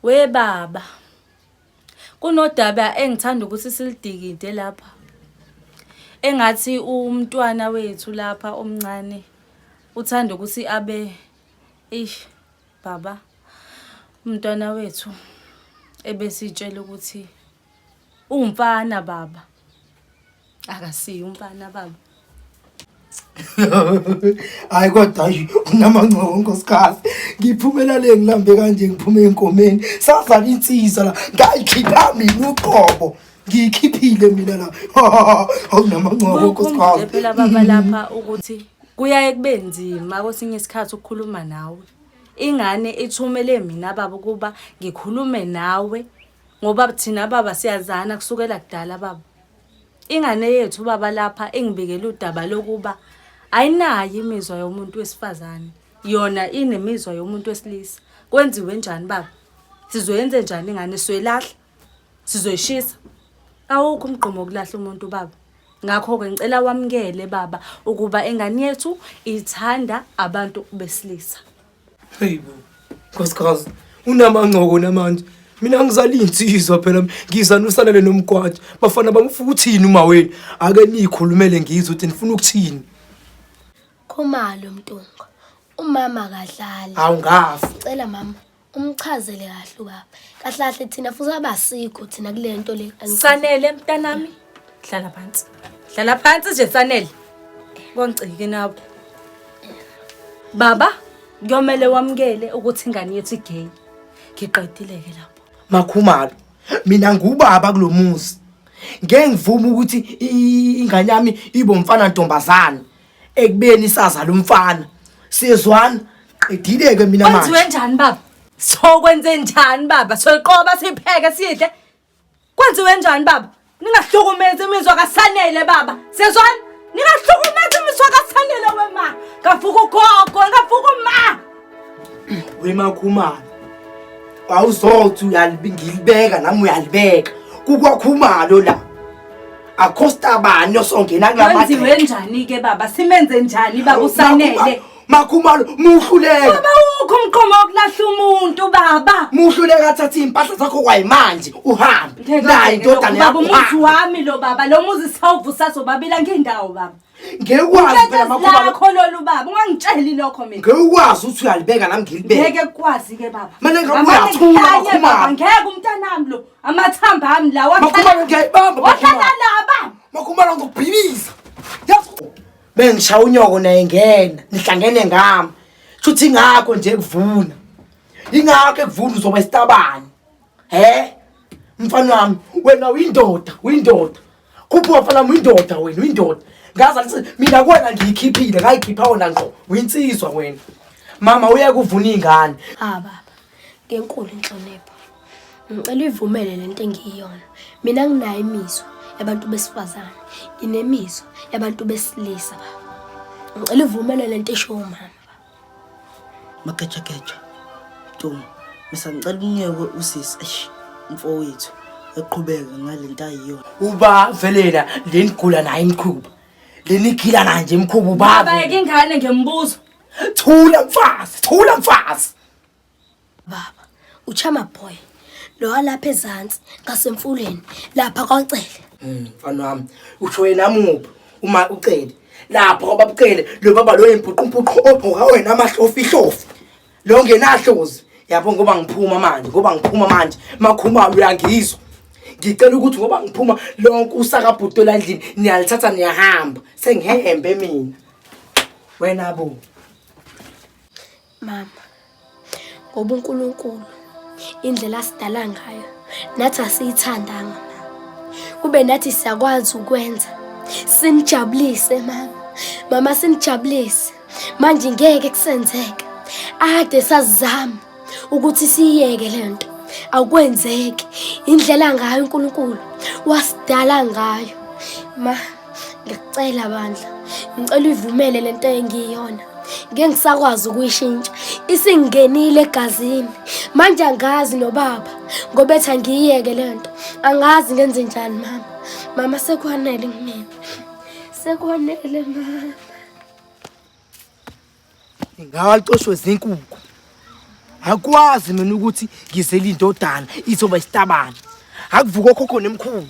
We baba. Kunodaba engithanda ukuthi silidikide lapha. Engathi umntwana wethu lapha omncane uthanda ukuthi abe ish baba umntwana wethu ebesitshela ukuthi Umfana baba. Akasiyo umfana baba. hayi kodwa nje unamancobo nkosikazi ngiphumela le ngilambe kanje ngiphume enkomeni sazala insizwa la ngayikhipha mina uqobo ngiyikhiphile mina la awunamancobo nkosikazi phela baba lapha ukuthi kuyaye kube nzima kwesinye isikhathi ukukhuluma nawe ingane ithumele mina baba ukuba ngikhulume nawe ngoba thina baba siyazana kusukela kudala baba ingane yethu baba lapha ingibikela udaba lokuba ayinayo imizwa yomuntu wesifazane yona inemizwa yomuntu wesilisa kwenziwe njani baba sizoyenze njani ingane sizoyilahla sizoyishisa awukho umgqomo wokulahla umuntu baba ngakho-ke ngicela wamukele baba ukuba ingane yethu ithanda abantu besilisa Hey bo. Nkosikazi, unamancoko namanje. Mina ngizali insizwa phela ngiza nosalele nomgwaja. Bafana bamfuka ukuthini uma wena? Ake nikhulumele ngizwe ukuthi nifuna ukuthini. Khumalo Mtunga. Umama akadlali. Awungafi. Cela mama umchazele kahle ubaba. Kahle kahle thina futhi abasikho thina kule nto le. Sanele mntanami. Hlala phansi. Hlala phansi nje Sanele. Kwangicike nawe. Baba, kuyomele wamukele ukuthi ingane yethu igay. Ngiqedile ke lapho. Makhumalo. Mina ngubaba kulomuzi. Ngeke ngivume ukuthi i- ingane yami ibe umfana ntombazana ekubeni isazala umfana. Siyezwana? Qedile ke mina manje. Kwenziwe njani baba? Sokwenze njani baba? Soqoba sipheke sidle. Kwenziwe njani baba? Ningahlukumezi imizwa kaSanele baba. Sezwani? Ningahlukumezi imizwa kaSanele wema. Ngavuka ugogo, ngavuka uma. Wema khumana. Awuzothi uyalibingilibeka nami uyalibeka. Kukwakhumalo la. Akho stabani osongena kulamadlela. Kwenziwe njani ke baba? Simenze njani baba uSanele? Makhumalo muhluleka. Baba ukho umqomo wokulahla umuntu baba. Muhluleka thatha impahla zakho kwayimanje uhambe. Nayi indodana yakho. Baba umuzi wami lo baba lo muzi sawuvusa sobabila ngendawo baba. Ngekwazi phela makhumalo. Lakho lolu baba ungangitsheli lokho mina. Ngekwazi uthi uyalibeka nami ngilibeke. Ngeke kwazi ke baba. Mina ngabe uyathula makhumalo. Ngeke umntanami lo amathamba ami lawa. Makhumalo ngiyayibamba. Wahlala la baba. Makhumalo ngokubhiliza. Yazi bengishaya unyoko naye ngena nihlangene ngami shuthi ingakho nje kuvuna ingakho ekuvuna uzoba isitabani he mfana wami wena uyindoda uyindoda khuphuka mfana wami uyindoda wena uyindoda ngaza lithi mina kuwena ngiyikhiphile ngayikhipha wona ngqo uyinsizwa wena mama uye kuvuna iy'ngane ah baba Ngenkulu inhlonipho. Ngicela uyivumele le nto engiyiyona. Mina nginayo imizwa yabantu besifazane. Nginemizwa yabantu besilisa baba. Ngicela uvumele lento esho umama. Mageja geja. Duma. Misa ngicela unyeke usisi. Eish. Mfowethu eqhubeke ngalento ayiyona. Uba velela lenigula naye imkhuba. Lenigila naye nje imkhuba ubaba. Baba yeke ingane ngembuzo. Thula mfazi, thula mfazi. Baba, uchama boy. Lo alapha ezantsi ngasemfuleni lapha kwaCele. Mm, mfana wami, usho yena muphi uma uCele? Lapha kwababuCele lo baba lo yimpuqumpuqu ogqoka wena amahlofi hlofi. Lo ngenahlozi. Yabo ngoba ngiphuma manje, ngoba ngiphuma manje. Makhumalo uyangizwa. ngicela ukuthi ngoba ngiphuma lonke usakabhuti olandlini niyalithatha niyahamba sengihembe mina wena bo mama ngoba uNkulunkulu indlela asidala ngayo nathi asiyithandanga kube nathi siyakwazi ukwenza sinijabulise mama mama sinijabulise manje ngeke kusenzeka ade sazama ukuthi siyeke lento akwenzeki indlela ngayo uNkulunkulu wasidala ngayo ma Ngicela bandla, ngicela uyivumele lento engiyiyona. Ngeke ngisakwazi ukuyishintsha. Isingenile egazini. Manje angazi nobaba ngoba ethi angiyiyeke lento. Angazi ngenze njani mama. Mama sekwanele kumina. Sekwanele mama. ngawacoshwe zinkukhu akwazi mina ukuthi ngizele indodana izoba isitabane akuvuka okhokho nemkhulu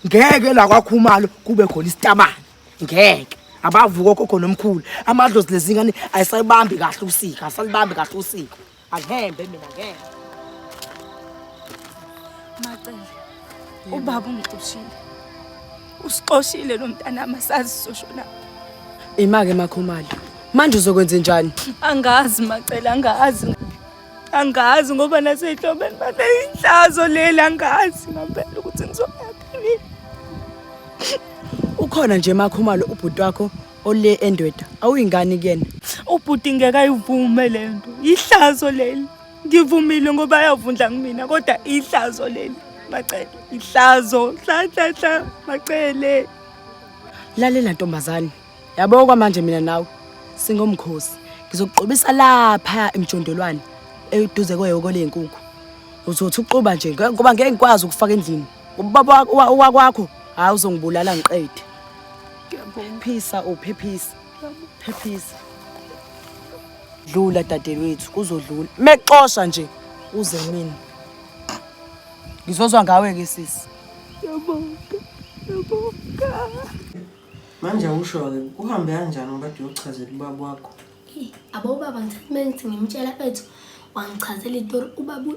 ngeke la kwakhumalo kube khona isitabane ngeke abavuka okhokho nomkhulu amadlozi lezingane ayisayibambi kahle usika asalibambi kahle usika Angihembe mina ngeke. Macele. Ubaba ungixoshile. Usixoshile lo mntana amasazi soshona. Imake makhumali. Manje uzokwenza njani? Angazi Macele angazi. Angazi ngoba nasehlobeni bane inhlazo leli angazi ngempela ukuthi ngizoyaphila. Ukhona nje makhumalo ubhuti wakho ole endoda awuyingane kuyena ubhuti ngeke ayivume le nto yihlazo leli ngivumile ngoba yavundla kumina kodwa ihlazo leli macele ihlazo hlanhlanhla macele lalela ntombazane yabo kwamanje mina nawe singomkhosi ngizokugqobisa lapha emjondolwane eduze kweyoko leyinkukhu uzothi uxuba nje ngoba ngeke ngikwazi ukufaka endlini ubaba wakwakho hayi uzongibulala ngiqede phisa uphephisa phephisa dlula dadewethu kuzodlula mexosha nje uze mina ngizozwa ngawe ke sisi yabonga yabonga manje awusho-ke kuhambe kanjani ngoba kade uyochazela ubaba wakho abo ubaba ngithathe ngithi ngimtshela bethu wangichazela itori ubaba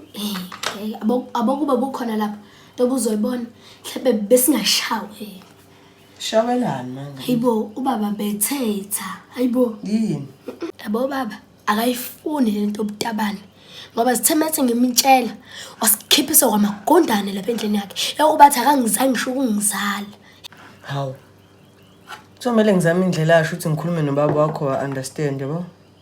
abokuba bukhona lapho lobuzoyibona mhlawumbe besingashawe Shawelani manje. Hayibo ubaba bethetha. Hayibo. Yini? Yabo baba akayifuni lento obutabane. Ngoba sithemethe ngemitshela wasikhiphisa kwamagondane lapha endlini yakhe. Yakubathi akangizange ngisho ukungizala. Hawu. Kuzomele ngizame indlela asho ukuthi ngikhulume nobaba wakho wa understand yabo.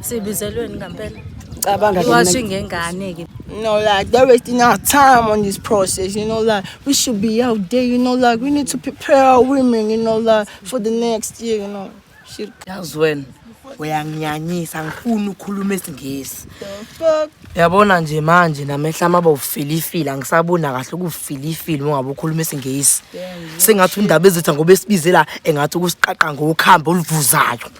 Sibizelweni ngampela. Cabanga iwashing ngengane ke. You know, like they're wasting our time on this process. You know, like we should be out there. You know, like we need to prepare our women. You know, like for the next year. You know, shit. That's when. uyanginyanyisa ngifuna ukhuluma isingisi yabona nje manje namehla amaba ufilifile angisabona kahle ukufilifile ungabe ukhuluma isingisi sengathi undaba ezitha ngoba esibize la engathi ukusiqaqa ngokuhamba oluvuzayo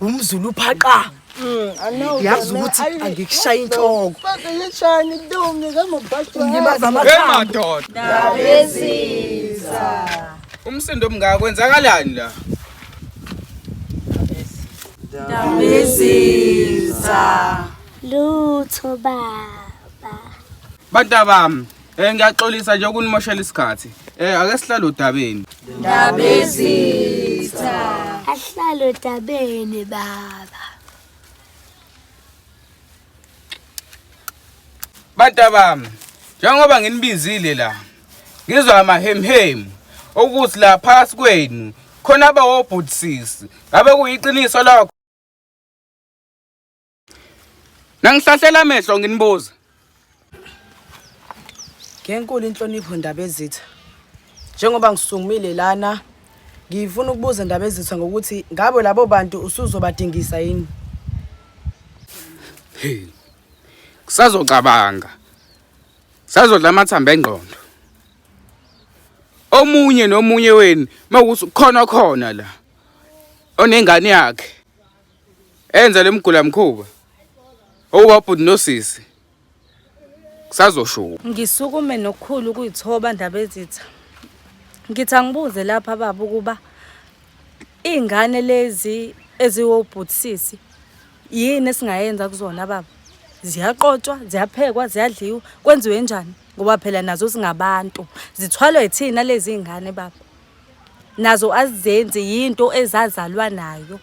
Umzulu phaqa. Mm, yazi ukuthi angikushaye inhloko ngishani ntombi kamabhaqilibaza amakhamadoda abesiza umsindo omngaka kwenzakalani la ndabesiza lutho baba bantabami Eh ngiyaxolisa nje ukunimoshela isikhathi. Eh ake sihlale odabeni. Ndabezitha. Ahlale odabeni baba. Bantabami, njengoba nginibizile la. Ngizwa amahemhemu okuthi la phakathi kwenu khona abawobhutisisi. Ngabe kuyiqiniso lakho? Nangisahlela amehlo nginibuza. Ngenkulu inhlonipho ndaba ezitha. Njengoba ngisungumile lana ngifuna ukubuza ndaba ezitha ngokuthi ngabo labo bantu usuzobadingisa yini? Hey. Kusazocabanga. Sazodla amathamba engqondo. Omunye nomunye wenu makuthi khona khona la onengane yakhe enza lemgula mkhuba owabhuti nosisi kusazoshuka ngisukume nokukhulu kuyithoba ndaba ezitha ngithi angibuze lapha baba ukuba iy'ngane lezi eziwobhutisisi yini esingayenza kuzona baba ziyaqotshwa ziyaphekwa ziyadliwa kwenziwe njani ngoba phela nazo singabantu zithwalwe yithina lezi ngane baba nazo azizenzi yinto ezazalwa nayo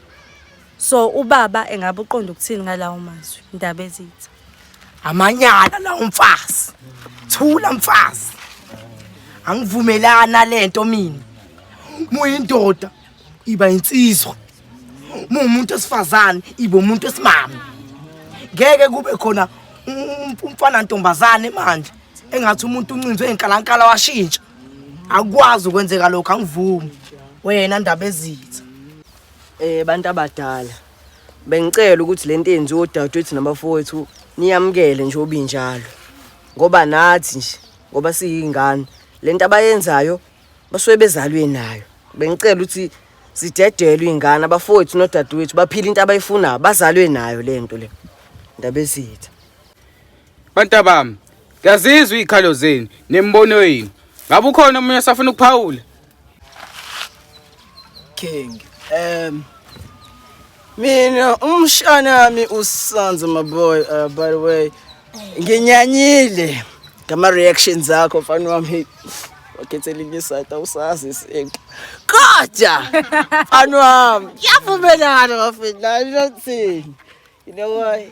so ubaba engabe uqonda ukuthini ngalawo mazwi ndaba ezitha amanyala lawo mfazi thula mfazi angivumelana lento mina muyindoda iba insizwa mumuntu esifazane ibe umuntu esimama ngeke kube khona umfana ntombazane manje engathi umuntu uncinzwe inkalankala washintsha akukwazi ukwenzeka lokho angivumi wena ndaba ezitha eh bantu abadala bengicela ukuthi lento enziwe odadewethu nabafowethu niyamukele nje obinjalo ngoba nathi nje ngoba siyingane lento abayenzayo basuke bezalwe nayo bengicela ukuthi sidedelwe ingane abafowethu nodadewethu baphila into abayifunayo bazalwe nayo lento le ndabezitha Bantabami, ngiyazizwa iy'khalo zenu nemibono yenu. Ngabe ukhona omunye osafuna ukuphawula? King, um, mina umshana wami usanze my boy uh, by the way nginyanyile ngama reactions akho mfana wami wakhethela inye side awusazi isinto kodwa mfana wami kuyavumelana bafethu la ngizothini you know why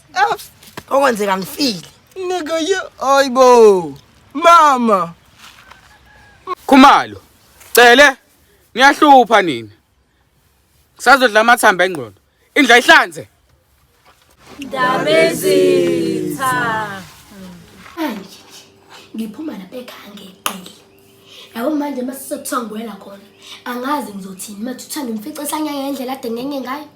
okwenzeka ngifile nigga ye ayibo mama khumalo cele niyahlupha nina kusazodla amathamba engqondo indla ihlanze ndabezitha ngiphuma lapha ekhaya ngeqile yabo manje uma sisokuthongwela khona angazi ngizothini mathutha ngimfice esanyanga ngendlela ade ngenye ngayo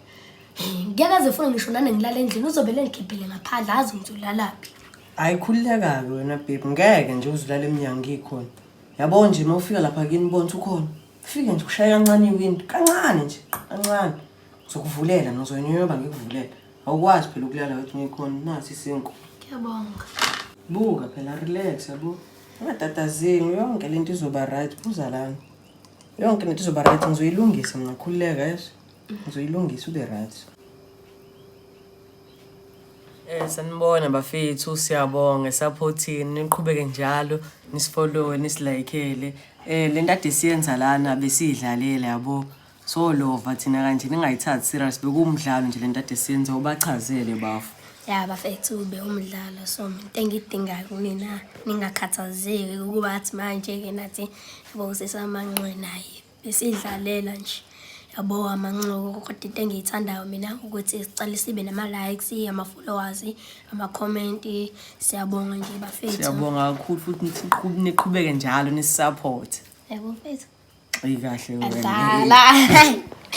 ngeke aze funa ngisho nane ngilala endlini uzobele ngikhiphele ngaphandle azi ngithi ulalaphi hayi khululeka-ke wena bebi ngeke nje uzilala emnyango ngikhona yabo nje uma ufika lapha kini bonisa ukhona fike nje ushaye kancane iwindi kancane nje kancane ngizokuvulela nozoyinyoba ngikuvulela awukwazi phela ukulala wethi ngikhona nasi isinku ngiyabonga buka phela relax yabo ungatatazini yonke le nto izoba right buza lana yonke le nto izoba right ngizoyilungisa mna khululeka yeso Ngizoyilungisa ube right. Eh sanibona bafethu siyabonga esaphothini niqhubeke njalo nisifollowe nisilayikele eh le nto ade siyenza lana besiyidlalela yabo so lova thina kanje ningayithathi serious bekuwumdlalo nje le nto ade siyenza ubachazele bafo ya bafethu bewumdlalo so into engidingayo kumina ningakhathazeki ukuba athi manje-ke nathi yabo usesamanxwe naye Besidlalela nje yabo amanxuko kodwa into engiyithandayo mina ukuthi sicale sibe nama-likes ama-followers ama-comment siyabonga nje bafethu siyabonga kakhulu futhi niqhu- niqhubeke njalo nisisupport yabo mfethu eyi kahle wena. adala